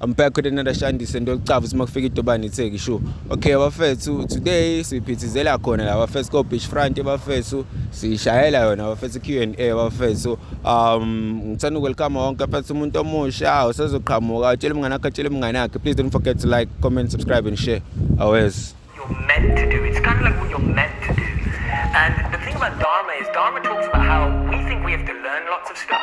I'm back with another Shandy Sendo Licavu simakufika idobani itheki sho. Okay bafethu today siphithizela khona la bafethu ko beach front bafethu sishayela yona bafethu Q&A bafethu um ngithanda ukwelcome wonke bafethu umuntu omusha usezoqhamuka utshela umngane wakhe utshela umngane wakhe please don't forget to like comment subscribe and share always you're meant to do it's kind of like what you're meant to do and the thing about dharma is dharma talks about how we think we have to learn lots of stuff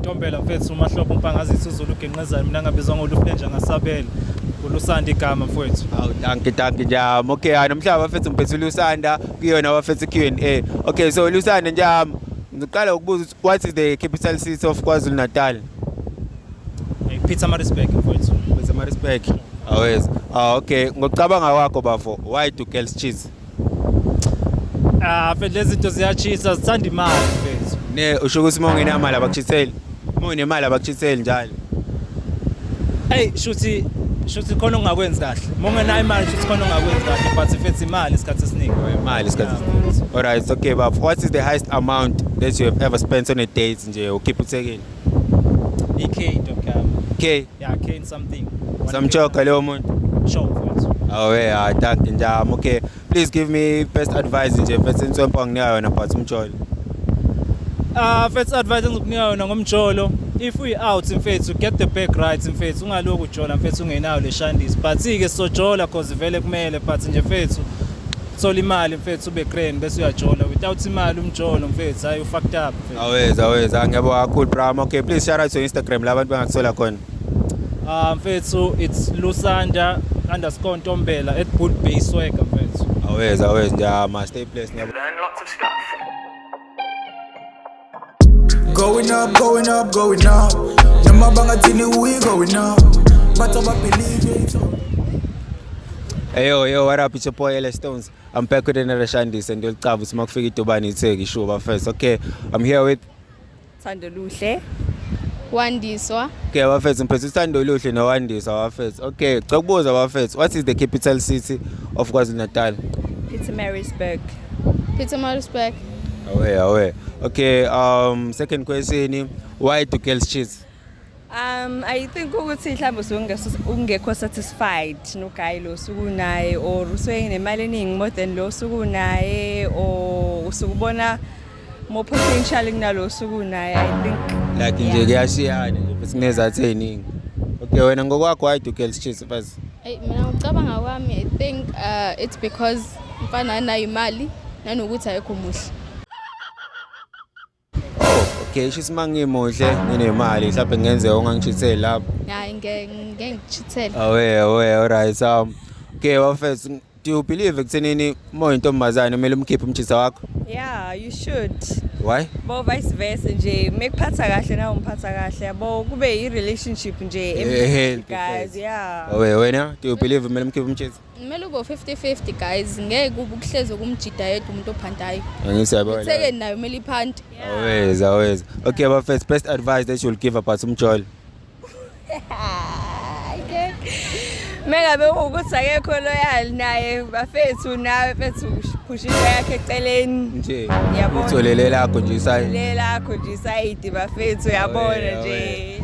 Ntombela mfethu umahlobo umpangazisa uzulu ugenqezayo mina ngabizwa ngolufenja ngasabela ulusanda igama mfowethu aw danki danki njam okay hayi nomhlaba bafethu ngiphethe ulusanda kuyona bafethu Q&A okay so ulusanda njam ngiqala ukubuza ukuthi what is the capital city of KwaZulu Natal hey, Peter Marisburg mfowethu Peter Marisburg awes ah okay ngokucabanga kwakho bafo why do girls cheat Ah, mfethu lezi zinto ziyachisa zithanda imali mfethu. Ne usho ukuthi uma ungenamali abakuchiseli. Uma unemali abakuchiseli njalo. Hey, shuthi shuthi khona ongakwenzi kahle. Uma ungenayo imali shuthi khona ongakwenzi kahle but mfethu imali isikhathi esiningi. Imali isikhathi. Yeah. All right, okay bab. What is the highest amount that you have ever spent on a date nje ukiphuthekile? Ikhe into yami. Okay. Yeah, Kane something. Samchoka leyo muntu. Sure, of course. Oh yeah, I thank you njam. Okay, please give me best advice nje mfethu inswempa nginika yona but umjolo. Ah, mfethu advice engizokunika yona ngomjolo. If we out mfethu get the back right mfethu ungaloku ujola mfethu ungenayo le shandisi. But ke sizojola cause vele kumele but nje mfethu thola imali mfethu ube grand bese uyajola without imali umjolo mfethu hayi ufucked up mfethu Always, always. Ah, ngiyabonga kakhulu Bram. Okay, please shout out to Instagram la abantu bangakuthola khona. ah mfethu it's lusanda underscore ntombela at good bay swagger mfethu Always, always. Ngiyama stay blessed. Ngiyabonga. Learn lots of stuff. Going up, going up, going up. Noma bangathini we going up. But I believe it. Hey yo yo what up it's your boy LS Stones I'm back with another Shandis and you'll travel sima kufika idobani itheki shuba first okay I'm here with Thando Luhle Wandiswa Okay bafethu ngiphethe uthando luhle nowandiswa bafethu okay cela kubuza bafethu what is the capital city of KwaZulu-Natal Pietermaritzburg Pietermaritzburg Away, away. Okay, um, second question, why do girls cheat? Um, I think ukuthi mhlawumbe usuke ungekho satisfied noguy lo suku naye or usuke nemali eningi more than lo suku naye or usukubona more potential kunalo suku naye I think like nje kuyashiyana nje futhi kunezathi eziningi. Okay, wena ngokwakho why do girls cheat? Baz. Hey, mina ngicabanga kwami I think uh, it's because Mfana anayo imali nanokuthi ayekho muhle. okay sho ukuthi mangimuhle nginemali mhlawumbe ngenze ongangishitheli lapho hayi ngeke ngishithele awe awe alright so um, okay wafethu do you believe ekuthenini uma uyintombazane kumele umkhiphe umjisa wakho yeah you should why bo vice versa nje mekuphatha kahle nawe umphatha kahle yabo kube i relationship nje eh, eh, guys yeah awe wena do you believe kumele umkhiphe umjisa kumele ube 50-50 guys ngeke ukuhlezi ukumjida yedwa umuntu ophantayo angisiyabothekeni nayo kumele iphante always always okay but first best advice that you'll give about umjolo mengabe ukuthi akekho loyal naye bafethu nawe fethu phusha into yakhe eceleni nje uthole lelakho nje isayidi lelakho nje isayidi bafethu uyabona nje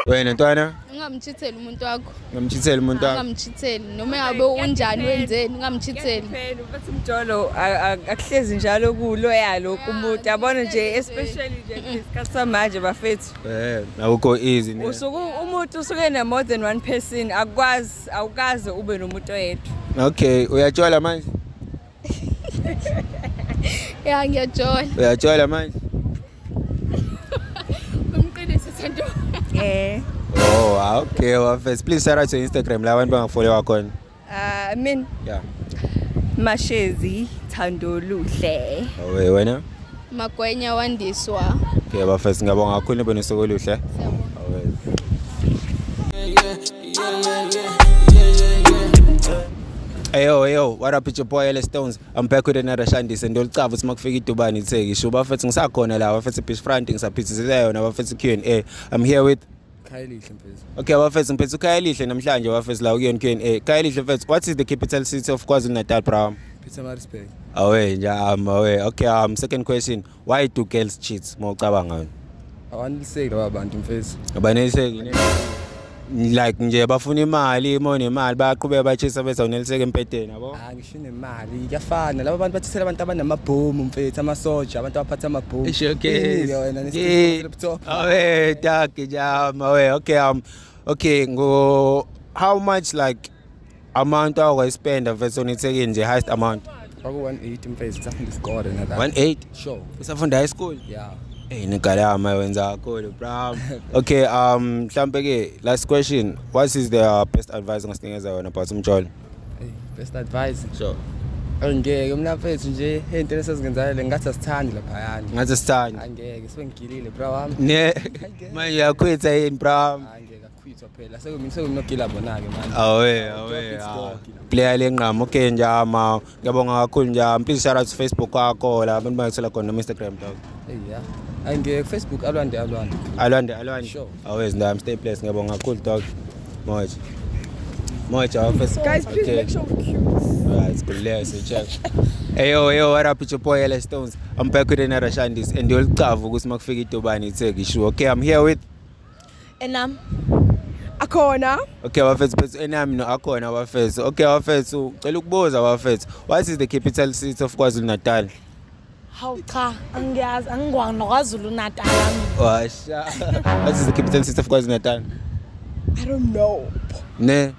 wena ntwana ungamchitheli umuntu wakho ungamchitheli umuntu wakho ungamchitheli noma yabe unjani wenzeni ungamchitheli ubethi umjolo akuhlezi njalo kuloya lokhu umuntu yabona nje especially nje isikhathi samanje bafethu eh awukho easy ne usuku umuntu usuke ne more than one person akwazi awukaze ube nomuntu oyedwa okay uyatshola manje ya ngiyajola uyajola manje umqinise sento eh oh ah, okay wafes please shout out to instagram la abantu bangafollow wakhona uh, ah, min yeah mashezi thandoluhle owe wena Magwenya wandiswa. Okay bafethu ngiyabonga kakhulu nibe nosuku oluhle. Eyo eyo what up your boy LS Stones I'm back with another Shandise ndolcava ukuthi makufika idubani itheki sho bafethu ngisakhona la bafethu Beach Front ngisaphithizela yona bafethu Q&A I'm here with Khayelihle mfethu. Okay bafethu mfethu Khayelihle namhlanje bafethu la kuyona Q&A. Khayelihle mfethu what is the capital city of KwaZulu-Natal bro? Pietermaritzburg. Awe nje um awe. Okay um second question why do girls cheat mawucabanga wena? Awaneliseki laba bantu mfethu. Abaneliseki ne like nje bafuna imali mawunemali bayaqhubeka bachisa bese awuneliseki empedeni yabo? Hayi Nemali kuyafana laba bantu bathathela abantu abanamabhomu mfethu amasoja abantu abaphatha amabhomu Isho ke. Iningi wena Ye- nesiphuthuphuthuphu. Awe daki jam awe okay um okay ngo how much like amount awukwa spend versus onithekile nje highest amount Kwaku 180 mfethu safunda isikole nala 18 show usafunda high school yeah Hey nigalama wenza kakhulu bro okay um mhlambe ke last question what is the uh, best advice ongasinikeza yona about umjolo best advice so angeke mnafethu nje into esezingenzayo le ngathi asithandi lapha yani ngathi asithandi angeke sengigilile bra wami ne manje yakhwetha yini bra wami angeke akhwitha phela sekumini sekunogila bona ke manje awe awe player lenqama okay njama Ngiyabonga kakhulu njalo. Please shout out to Facebook kwakho la abantu bangisela khona no Instagram dog. Yeah. Ay ngiye Facebook alwande alwande. Alwande alwande. Sure. Always ndam stay place ngiyabonga kakhulu dog. Moje. Moje office. Guys please okay. make sure we're cute. Right, kulele so check. Hey yo yo what up your boy LS Stones. I'm back with another Shandis and you'll cover ukuthi makufika idobani itheki sure. Okay, I'm here with Enam. Akhona. Okay bafethu bafethu enami no akhona bafethu. Okay bafethu cela ukubuza bafethu. What is the capital city of KwaZulu Natal? Hawu cha angiyazi angikwazi noKwaZulu Natal. Washa. What is the capital city of KwaZulu Natal? I don't know. Ne.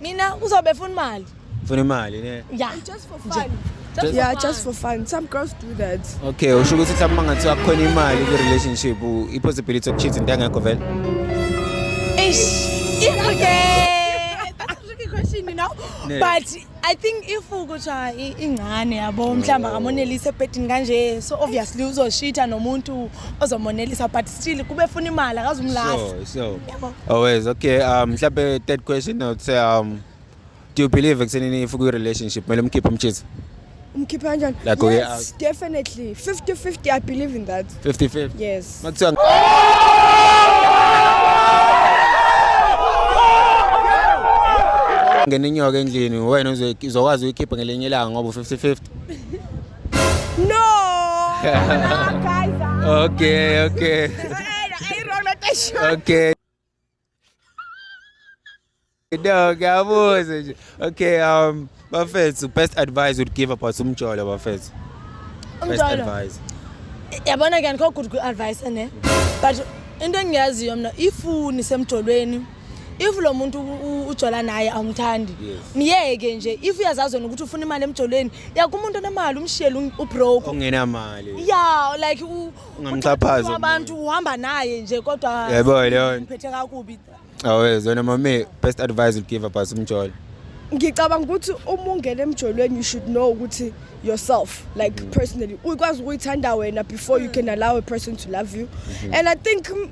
mina uzobe funa imali funa imali ne yeah just for fun Just yeah, for just for fun. Some girls do that. Okay, usho ukuthi mhlawumbe mangathiwa kukhona imali kwi relationship, i possibility of cheating ngeke vele. Eish, okay. That's a tricky question, you know. Yeah. But I think if ukuthiwa ingane yabo mhlawumbe akamonelise ebhedini kanje so obviously uzoshitha nomuntu ozomonelisa but still kube funa imali akazumlahla so so Yebo. always okay um mhlawumbe third question i would say um do you believe ekuthenini if ukwi relationship kumele umkhiphe umtshisi umkhiphe kanjani Like we yes definitely 50 50 i believe in that 55 yes makuthiwa ngena inyoka endlini wena uzoy- uzokwazi uyikhipha ngelinye ilanga ngoba u-50 50 No! Wala, guys, ah. Okay, okay. Ay, ay, wrong na tayo siya. Okay. No, ngiyabuza nje. Okay, um, bafethu, best advice you'd give about umjolo bafethu. Best Umjolo. advice. Yabona ke andikho good kwi-advice ne. But into engiyaziyo mna ifuni semjolweni if lo muntu ujola naye awumthandi myeke nje if uyazazi wena ukuthi ufuna imali emjolweni yaka umuntu onemali umshiyele um, ubroke ongenamali ya like ungamxhaphaza abantu uhamba naye nje kodwa yebo leyo ngiphethe kakubi awezi wena mame best advice you give about umjolo ngicabanga ukuthi uma ungena emjolweni you should know ukuthi yourself like mm. personally ukwazi ukuyithanda wena before you mm. can allow a person to love you mm-hmm. and i think mm,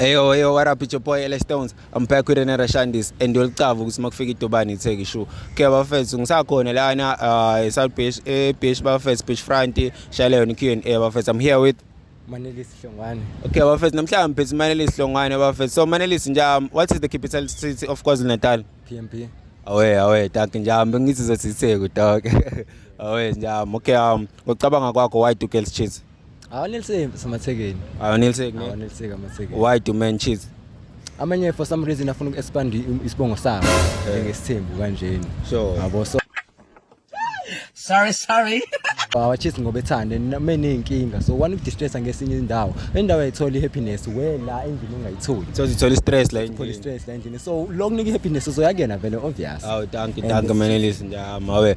Eyo eyo what up it's your boy LS Stones I'm back with another Shandis and yolicava ukuthi makufika idobani itheki shu ke bafethu ngisakhona lana uh, e South Beach e Beach bafethu Beach Front shayela yona Q&A bafethu I'm here with Manelisi Hlongwane Okay bafethu namhlanje phezulu Manelisi Hlongwane bafethu so Manelisi nja um, what is the capital city of KwaZulu-Natal PMP Awe awe dog njambe ngithi zothi itheki dog Awe njambe okay um ucabanga kwakho why do girls cheat awaneliseki samathekeni awaneliseki awaneliseki amathekeni why do men cheat amanye for some reason afuna uku-expand isibongo sabo eh. njengesithembu kanjeni sure yabo so sorry sorry awachisi ngoba ethande meneyinkinga so one ukudistressa ngesinye indawo endawo ayitholi i-happiness we la endlini ungayitholi so zithola i-stress la endlini stress la endlini so lo kunika i-happiness uzoyakuyena vele obvious awu danki danki menelisi njama we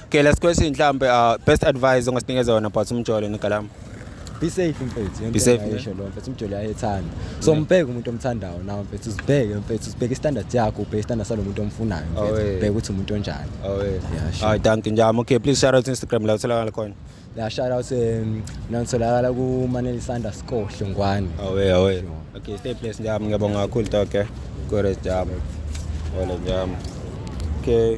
Okay, last question mhlambe uh, best advice ongasinikeza yona about umjolo negalama. be safe mfethu Be safe, yeah. yesho lo mfethu umjoli ayethanda so mbheke umuntu omthandayo nawe mfethu usibheke mfethu usibheke istandard yakho ubheke istandard salo muntu omfunayo Oh, mfethu eh. ubheke ukuthi umuntu onjani Awe. Yeah, sure. Hayi danki njami. Okay, please shout out to Instagram la utholakala khona. la shout out um nanitholakala kumanelisa underscore hlongwane Awe, awe. Sure. Okay, stay blessed njami. Ngiyabonga kakhulu Doc. eh. Good as njami. Wala njami. Okay.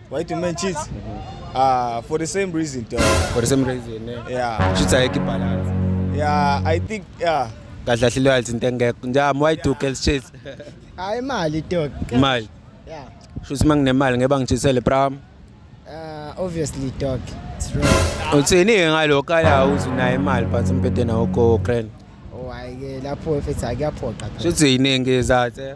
Why do men cheat? Uh, for the same reason. Though. For the same reason, eh? Yeah. Cheats are balance. Yeah, I think, yeah. kahle kahle loyalty into engekho njami why do girls cheat hayi imali dog imali yeah shuthi uma nginemali ngeba ngichisele pram uh obviously dog it's wrong uthini ke ngalo kala uthi naye imali but umpede nawo ko grand oh hayi ke lapho mfethu akuyaphoqa shuthi yiningi izathe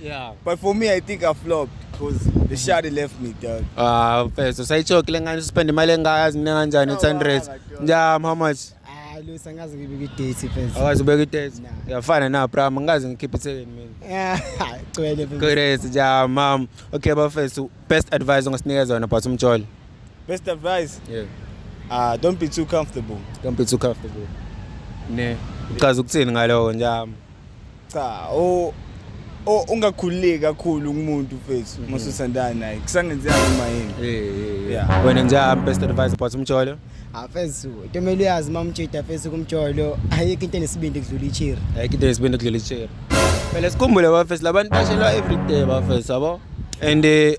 Yeah. But for me, I think I flopped because the shawty left me, dog. Ah, mfethu usayichoke le ngane uspend imali engaka zine kanjani No, 800. wala, dog. Njam how much? Ah, Lusa ngaze ngibike idate first. Awazi ubeka itest. Nah. Yafana na pram ngazi ngikhipha ithekeni mina. Yeah, gcwele phela. Great njam mam. Okay bafethu best advice ongasinikeza yona about umjolo. Best advice, Yeah. uh, don't be too comfortable. Don't be too comfortable. Ne. Uchaza ukuthini ngaloko njam. cha o o ungakhululeki kakhulu kumuntu mfethu uma usuthandana naye kusangenzeka noma yini Yeah. wena njani best advice but umjolo afesu tomele uyazi uma umtshidi afesu kumjolo ayikho into enesibindi kudlula ichiri ayikho into yesibindi kudlula icheri phela sikhumbule bafesi labantu bashelwa everyday bafesi yabo and eh,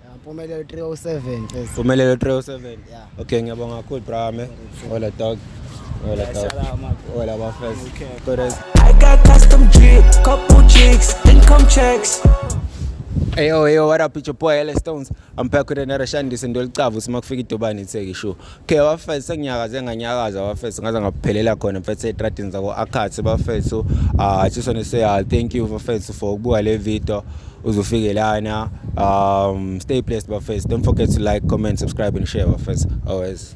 Mpumelelo 307 sis. Mpumelelo 307. Yeah. Okay, ngiyabonga kakhulu bra me. Hola dog. Hola dog. Hola bafes. Kodwa I got custom drip, couple chicks, income checks. Hey yo, hey yo, what up, it's your boy LS Stones. I'm back with another Shandis and Dolcavu. Simakufika idobani itheki show. Okay bafethu senginyakaze nganyakaza bafethu ngaze ngaphelela khona mfethu etradini zako Akhathi bafethu ah sisone say ah, thank you bafethu for ukubuka le video uzofike lana um stay blessed bafethu don't forget to like comment subscribe and share bafethu always